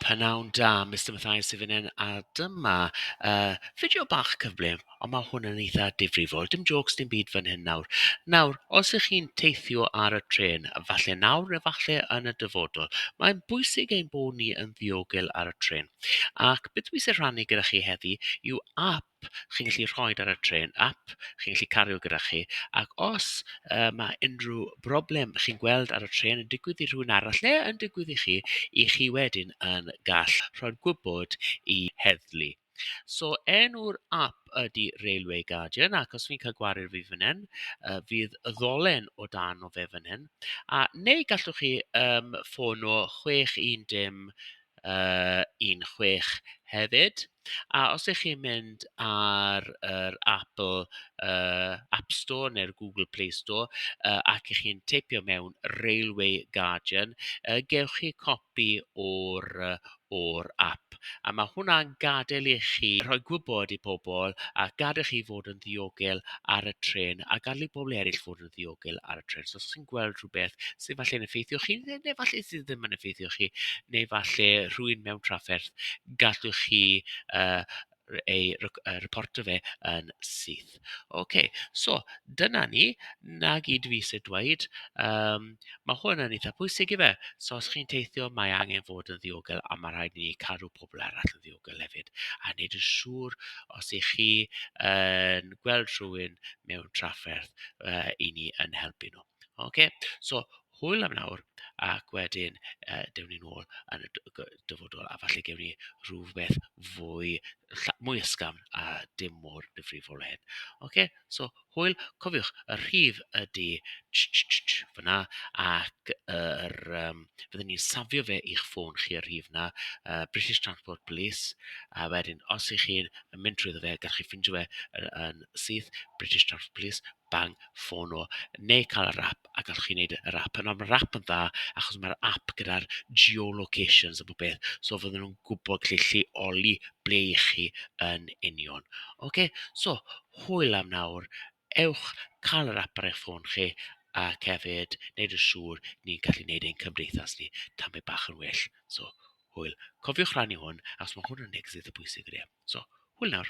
Pnawn da, Mister Mathias sydd fan hyn a dyma yy fideo bach cyflym, ond ma' hwn yn eitha difrifol. Dim jôcs dim byd fan hyn nawr. Nawr, os 'y chi'n teithio ar y trên, falle nawr neu falle yn y dyfodol, mae'n bwysig ein bod ni yn ddiogel ar y trên. Ac beth dwi isie rhannu gyda chi heddi yw ap chi'n gallu rhoi ar y trên, ap chi'n gallu cario gyda chi, ac os yy ma' unrhyw broblem chi'n gweld ar y trên yn digwydd i rhywun arall neu yn digwydd i chi, 'y chi wedyn yn gall rhoi'r gwybod i heddlu. So enw'r ap ydy Railway Guardian, ac os fi'n cael gwared fi fan hyn, yy fydd y ddolen o dan o fe fan hyn, a neu gallwch chi yym ffono chwech un dim yy 16 hefyd, a os 'y chi'n mynd ar yr Apple yy App Store neu'r Google Play Store yy ac 'y chi'n teipio mewn 'Railway Guardian', yy gewch chi copi o'r yy o'r ap, a ma' hwnna'n gadael i chi rhoi gwybod i pobl a gadael chi fod yn ddiogel ar y trên a gadael i bobl eraill fod... ddiogel ar y trên. So os ti'n gweld rhywbeth sydd falle'n effeithio chi, neu neu falle sydd ddim yn effeithio chi, neu falle rhywun mewn trafferth, gallwch chi yy r- ei rec- yy reporto fe yn syth. Ocê, so dyna ni. 'na gyd dwi isie dweud. Yym, ma' hwn yn eitha pwysig ife? So os chi'n teithio, mae angen fod yn ddiogel, a ma' rhaid i ni cadw pobl arall yn ddiogel. Google hefyd a wneud yn siŵr os 'y chi yn gweld rhywun mewn trafferth yy 'y ni yn helpu nhw. Ocê so hwyl am nawr ac wedyn yy dewni nôl yn y d- g- dyfodol a falle gewn ni rywbeth fwy lla- mwy ysgafn a dim mor ddifrifol â hyn. Ocê so... Hwyl, cofiwch y rhif ydy tsh-tsh-tsh fan'na ac yr yym fydden ni'n safio fe i'ch ffôn chi y rhif 'na yy British Transport Police a wedyn os 'y chi'n mynd trwyddo fe gallwch chi ffindio fe yy yn syth British Transport Police bang ffono neu cael yr ap a gallwch chi wneud yr ap nawr ma'r ap yn dda achos ma'r ap gyda'r geolocations a bob peth so fydden nhw'n gwbod lle lleoli ble 'y chi yn union ocê so hwyl am nawr, ewch cael yr ap ar eich ffôn chi, ac hefyd wneud yn siŵr ni'n gallu wneud ein cymdeithas ni tamed bach yn well. So, hwyl. Cofiwch rannu hwn, achos mae hwn yn neges eitha pwysig, ydy e. So, hwyl nawr.